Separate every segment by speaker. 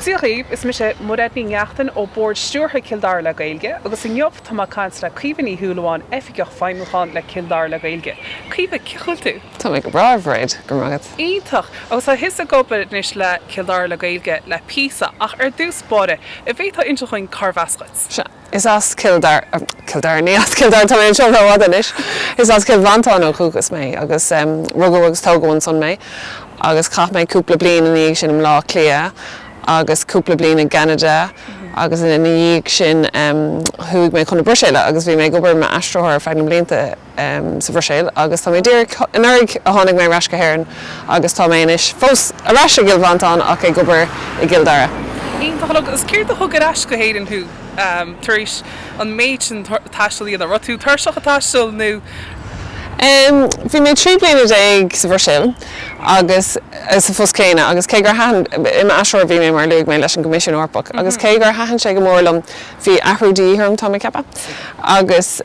Speaker 1: Dia dhaoibh, is mise Mairéad Ní Neachtain ó Bord Stiúrtha Cill Dara le Gaeilge agus inniu tá mé ag caint le Caoimhe Ní Shúilleabháin, Oifigeach Feidhmiúcháin le Cill Dara le Gaeilge. Caoimhe, cén chaoi a bhfuil tú? Tá mé go breá, a
Speaker 2: Mhairéad, go raibh maith agat. Iontach! Agus
Speaker 1: tá tusa ag obair anois le Cill Dara le Gaeilge le píosa, ach ar dtús báire, an bhféadfá inseacht dhúinn cárb as dhuit? Sea. Is
Speaker 2: as Cill Dar-, Cill Dara, ní as Cill Dara, tá mé anseo rófhada anois, is as Cill Mhantáin ó dhúchas mé agus rugadh agus tógadh ansan mé agus chaith mé cúpla bliain ina dhiaidh sin i mBleá Cliath agus cúpla bliain i gCeanada agus ina dhiaidh sin chuaigh mé chun na Bruiséile agus bhí mé ag obair mar aistritheoir ar feadh na mblianta sa Bhruiséil agus tá mé díreach, anuraidh a tháinig mé ar ais go hÉirinn agus tá mé anois fós ar ais i gCill Mhantáin ach ag obair i gCill Dara. Iontach. Agus
Speaker 1: céard a thug ar ais go hÉirinn thú tar éis an méid sin taistil a dhéanamh? Raibh tú tuirseach ag taisteal
Speaker 2: nó? Bhí mé trí bliana déag sa Bhruiséil agus sa phost céanna agus cé gur thaitin, i m'aistritheoir a bhí mé mar a luaigh mé leis an gCoimisiún Eorpach, agus cé gur thaitin sé go mór liom, bhí athrú de dhíth orm, tá mé ag ceapadh, agus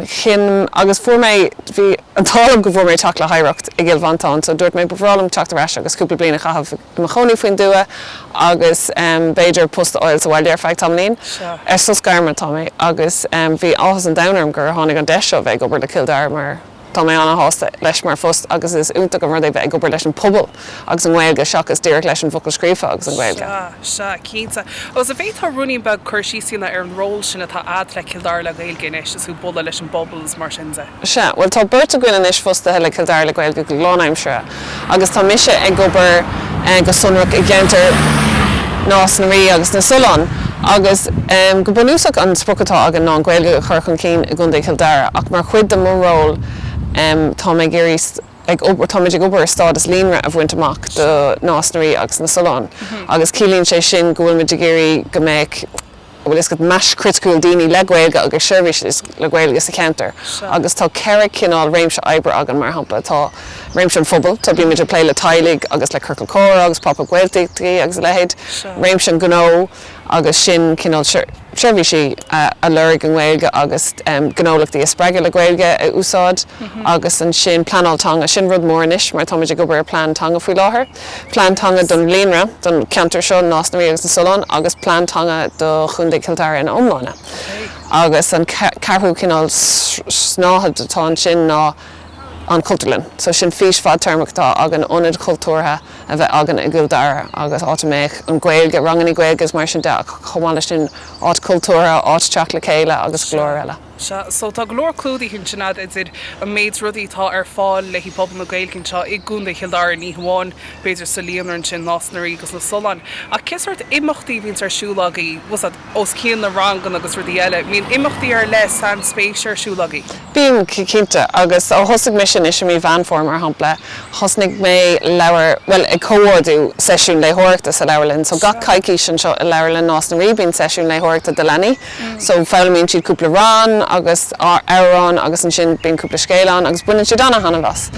Speaker 2: chinn, agus fuair mé, bhí an t-ádh liom go bhfuair mé teach le hoidhreacht i gCill Mhantáin, so dúirt mé ba bhreá liom teacht ar ais agus cúpla bliain a chaitheamh i mo chónaí faoin dtuath agus b'fhéidir post a fháil sa bhaile ar feadh tamaillín, ar sos gairme atá mé, agus bhí áthas an domhain orm gur tháinig an deis seo bheith ag obair le Cill Dara mar. Tá mé ana-shásta leis mar phost agus is iontach an rud é bheith ag obair leis an bpobal agus an Ghaeilge seachas díreach leis an bhfocal scríofa agus an Ghaeilge. Sea, sea, cinnte.
Speaker 1: Agus an bhféadfá ruainnín beag cur síos a dhéanamh ar an ról sin atá a'd le Cill Dara le Gaeilge anois, is tú ag bualadh leis an bpobal is mar sin de? Sea, bhuel tá beirt
Speaker 2: againn anois fostaithe le Cill Dara le Gaeilge go lán-aimseartha. agus tá mise ag obair go sonrach i gceantar Nás na Rí agus na Sollán agus go bunúsach an sprioc atá againn ná an Ghaeilge a chur chun cinn i gContae Chill Dara ach mar chuid de mo ról táim ag iarraidh, táimid ag obair ar stádas líonra a bhaint amach do Nás na Rí agus na Sollán agus ciallaíonn sé sin go bhfuilimid ag iarraidh go mbeadh. bhfuil a fhios agat, mais chriticiúil daoine le Gaeilge agus seirbhísí le Gaeilge sa cheantar seo. Agus tá ceithre chineál réimse oibre againn, mar shampla, tá réimse an phobail, so bímid ag plé le teaghlaigh agus le ciorcail comhrá agus Pop-Up Gaeltachtaí agus a leithéid, réimse an ghnó, agus sin cineál seirbhísí a lorg i nGaeilge agus gnólachtaí a spreagadh le Gaeilge a úsáid, agus ansin pleanáil teanga, sin rud mór anois mar táimid ag obair ar phlean teanga faoi láthair. Plean Teanga don Líonra, don cheantar seo, Nás na Rí agus na Sollán, agus Plean Teanga do Chontae Chill Dara ina iomláine. Agus an ceathrú cineál snáithe atá ansin ná an Chultúrlann. So sin fís fadtéarmach atá againn, ionad cultúrtha a bheith againn i gCill Dara agus áit a mbeadh an Ghaeilge, rangannaí Gaeilge is mar sin de ach chomh maith leis sin áit chultúrtha, áit teacht le chéile agus go leor eile. Sea, so tá go
Speaker 1: leor clúdaithe ansin agat idir an méid rudaí atá ar fáil le pobal na Gaeilge anseo i gContae Chill Dara, ní hamháin, b'fhéidir, sa Líonra ansin, Nás na Rí agus na Solláin. Ach cén sórt imeachtaí a bhíonns ar siúl agaibh, abair, os cionn na ranganna agus rudaí eile, mbíonn imeachtaí ar leith sainspéise ar siúl agaibh? Bíonn,
Speaker 2: cinnte. Agus ó thosaigh mise anois i mí Mheán Fómhair, mar shampla, thosnaigh mé leabhar, bhuel, ag comhordú seisiún léitheoireachta sa leabharlann. So gach coicís anseo i leabharlann Nás na Rí bíonn seisiún léitheoireachta do leanaí. So, foghlaimíonn siad cúpla rann agus amhrán agus ansin bíonn cúpla scéal ann agus baineann siad ana-thaitneamh as.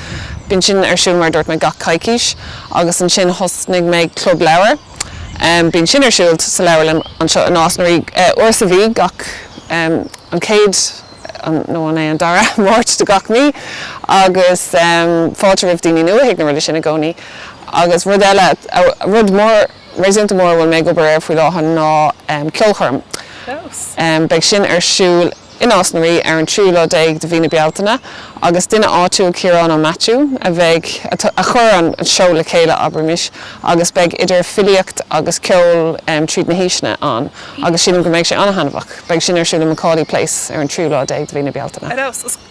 Speaker 2: Bíonn sin ar siúl, mar a dúirt mé, gach coicís agus ansin thosnaigh mé club leabhar. Bíonn sin ar siúl sa leabharlann anseo i Nás na Rí uair sa mhí, gach, an chéad, nó an é an dara Máirt de gach mí agus fáilte roimh daoine nua chuig na rudaí sin i gcónaí. Agus rud eile, rud mór. réasúnta mór a bhfuil mé ag obair air faoi láthair ná ceolchoirm. Beidh sin ar siúl i Nás na Rí ar an tríú lá déag de mhí na Bealtaine agus duine áitiúil, Ciarán Ó Maitiú, a bheidh, a chuir an seó le chéile, abraimis, agus beidh idir filíocht agus ceol tríd na haoiseanna ann agus sílim go mbeidh sé an-taitneamhach. Beidh sin ar siúl i McAuley Place ar an tríú lá déag de mhí na Bealtaine.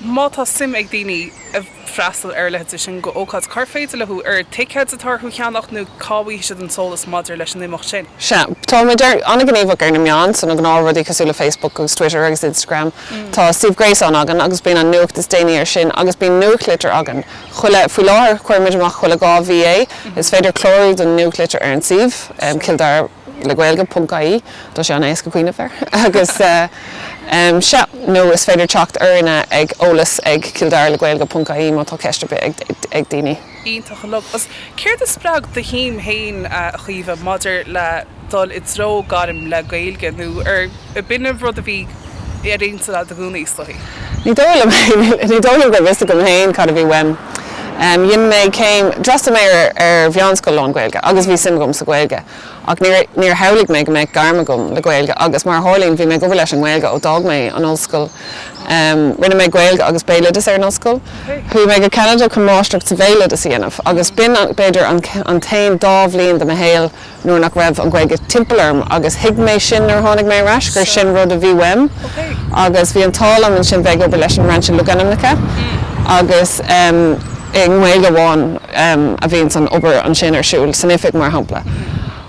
Speaker 2: Má tá
Speaker 1: suim ag daoine a. freastal ar a leithéid sin d'ócáid? Cár féidir leo, an ticéid atá orthu a cheannach nó cá bhfaighidh siad an t-eolas maidir leis an imeacht sin? Sea, tá muid
Speaker 2: an-ghníomhach ar na meáin, so na gnáthrudaí cosúil le Facebook agus Twitter agus Instagram. Tá suíomh gréasáin againn agus bíonn an nuacht is déanaí ar sin agus bíonn nuachtlitir againn chuile, faoi láthair cuirimid amach chuile dhá mhí é. Is féidir clárú don nuachtlitir ar an suíomh, Cill Dara. le Gaeilge ponc ie, tá sé an-éasca cuimhneamh air, agus sea, nó is féidir teacht orainne ag eolas ag Cill Dara le Gaeilge ponc ie, má tá ceist ar bith ag daoine. Iontach an rud.
Speaker 1: Agus céard a spreag do shuim féin, a Chaoimhe, maidir le dul i dtreo gairm le Gaeilge, nó ar. b'in é rud a bhí ar
Speaker 2: intinn a'd i
Speaker 1: gcónaí,
Speaker 2: is dóigh.
Speaker 1: Ní
Speaker 2: dóigh
Speaker 1: liom é.
Speaker 2: Ní dóigh liom gurbh
Speaker 1: 'fhios
Speaker 2: agam féin cad a bhí uaim. Dhein mé céim, d'fhreastail mé ar mheánscoil lán-Ghaeilge agus bhí suim agam sa Ghaeilge ach níor, níor shamhlaigh mé go mbeadh gairm agam le Gaeilge agus mar a tharlaíonn bhí mé ag obair leis an nGaeilge ó d'fhág mé an ollscoil. Rinne mé Gaeilge agus Béaloideas ar an ollscoil. Chuaigh mé go Ceanada chun máistreacht sa Bhéaloideas a dhéanamh agus b'in b'fhéidir an, an t-aon dá bhliain de mo shaol nuair nach raibh an Ghaeilge timpeall orm agus thuig mé sin nuair a tháinig mé ar ais, gur sin rud a bhí uaim agus bhí an t-ádh liom ansin bheith ag obair leis an mBrainse Logainmneacha agus i nGaeilge amháin a bhíonns an obair ansin ar siúl, san oifig mar shampla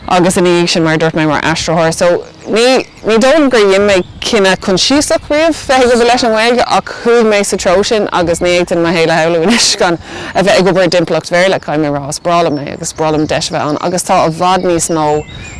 Speaker 2: agus ina dhiaidh sin mar a dúirt mé mar aistritheoir so ní. Ní dóigh liom gur dhein mé cinneadh coinsiasach riamh bheith ag obair leis an nGaeilge ach chuaigh mé sa treo sin agus ní fhéadfainn mo shaol a shamhlú anois gan a bheith ag obair i dtimpeallacht Bhéarla, caithfidh mé a rá. Is breá liom é agus is breá liom deis a bheith ann agus tá i bhfad níos mó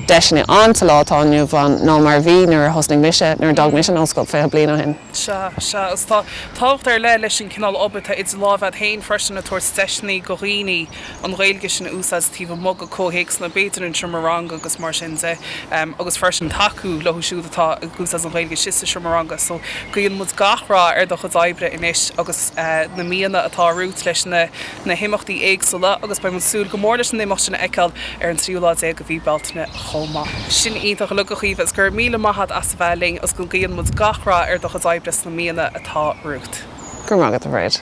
Speaker 2: deiseanna ann sa lá atá inniu ann ná mar a bhí nuair a thosnaigh mise, nuair a d'fhág mise an ollscoil 20 bliain ó shin. Sea, sea, agus tá
Speaker 1: tábhacht ar leith leis an chineál obair atá idir lámh a'd féin freisin ag tabhairt deiseanna do dhaoine. an Ghaeilge sin a úsáid taobh amuigh de comhthéacsanna b'fhéidir an tseomra ranga agus mar sin de agus freisin tacú leo siúd atá ag úsáid an Ghaeilge sin sa tseomra ranga. So guíonn muid gach rath ar do chuid oibre anois agus sna míonna atá romhat leis na himeachtaí éagsúla agus beidh muid ag súil go mór leis an imeacht sin a fheiceáil ar an tríú lá déag de mhí Bealtaine chomh maith. Sin iontach go leor a Chaoimhe agus go raibh míle maith agat as a bheith linn agus guíonn muid gach
Speaker 2: rath
Speaker 1: ar do chuid oibre sna míonna atá
Speaker 2: romhat.
Speaker 1: Go raibh
Speaker 2: maith agat,
Speaker 1: a Bhríd.